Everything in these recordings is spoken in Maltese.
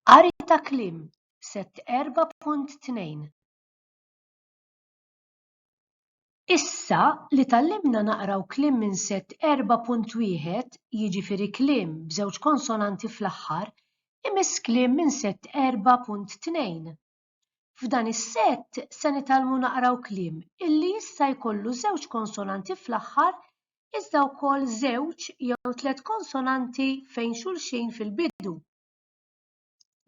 Qari ta' kliem, Sett 4.2 Issa li tgħallimna naqraw kliem minn Sett 4.1, jiġifieri kliem b'żewġ konsonanti fl-aħħar, imiss kliem minn Sett 4.2. F'dan is-sett se nitgħallmu naqraw kliem illi jista' jkollu żewġ konsonanti fl-aħħar iżda wkoll żewġ jew tliet konsonanti fejn xulxin fil-bidu.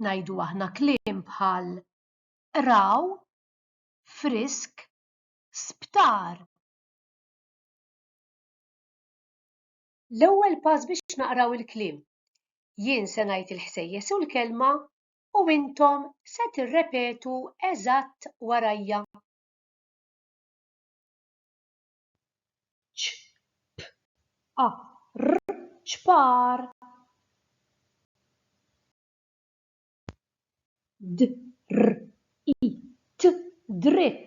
Ngħidu aħna kliem bħal qraw, frisk, sptar. L-ewwel pass biex naqraw il-kliem. Jien se ngħid il-ħsejjes u l-kelma u intom se tirrepetu eżatt warajja. ċ-p-a-r, ċpar. d-r-i-t, dritt.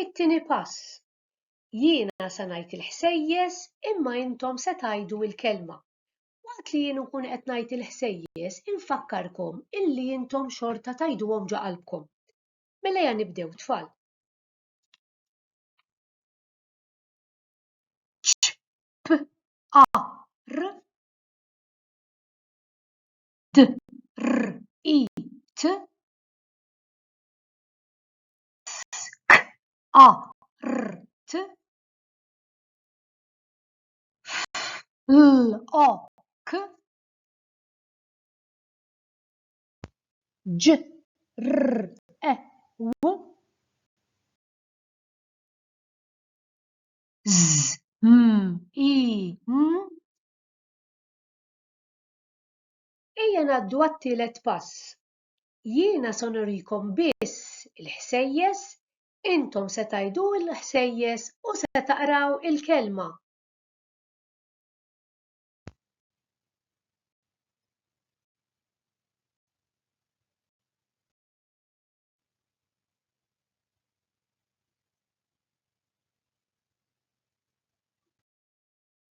It-tieni pass, Jiena se ngħid il-ħsejjes imma intom se tgħidu l-kelma. Waqt li jien nkun qed ngħid il-ħsejjes infakkarkom illi intom xorta tgħiduhom ġo qalbkom. Mela ejja nibdew tfal. ċ-ċ-p-a-r d-r-i-t Skart. Flok. Ġrew. Żmien. Ejja ngħaddu għat-tielet pass. Jiena se nurikom biss il-ħsejjes, intom se tgħidu l-ħsejjes u se taqraw il-Kelma.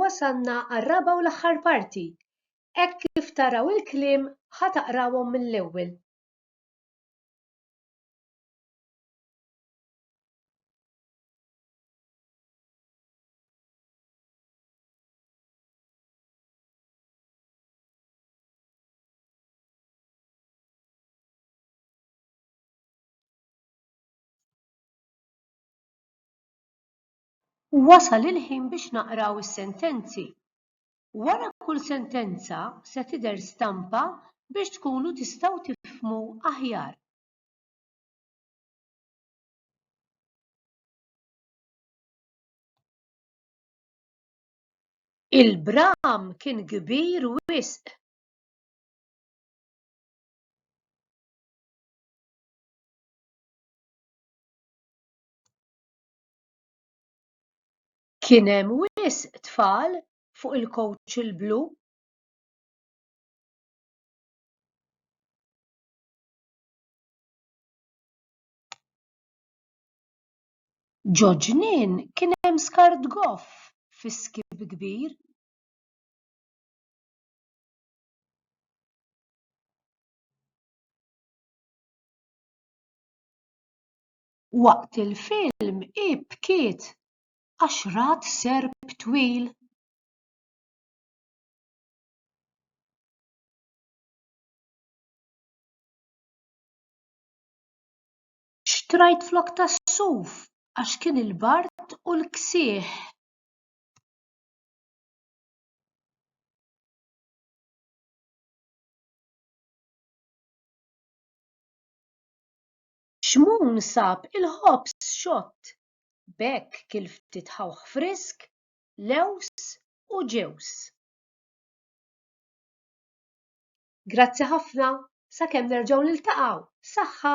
Wasalna għar-raba' u l-aħħar parti. Hekk kif taraw il-kliem ħa taqrawhom mill-ewwel. Wasal il-ħin biex naqraw is-sentenzi. Wara kull sentenza se tidher stampa biex tkunu tistgħu tifhmu aħjar. Il-bram kien kbir wisq. Kien hemm wisq tfal fuq il-kowċ il-blu. Ġo ġnien kien hemm skart goff fi skib kbir. Waqt il-film hi bkiet għax rat serp twil. Xtrajt flokk tas-suf għax kien il-bard u l-ksieħ. Xmun sab il-ħobż xott, b'hekk kiel ftit ħawħ frisk, lewż u ġewż. Grazzi ħafna, sakemm nerġgħu niltaqgħu, saħħa!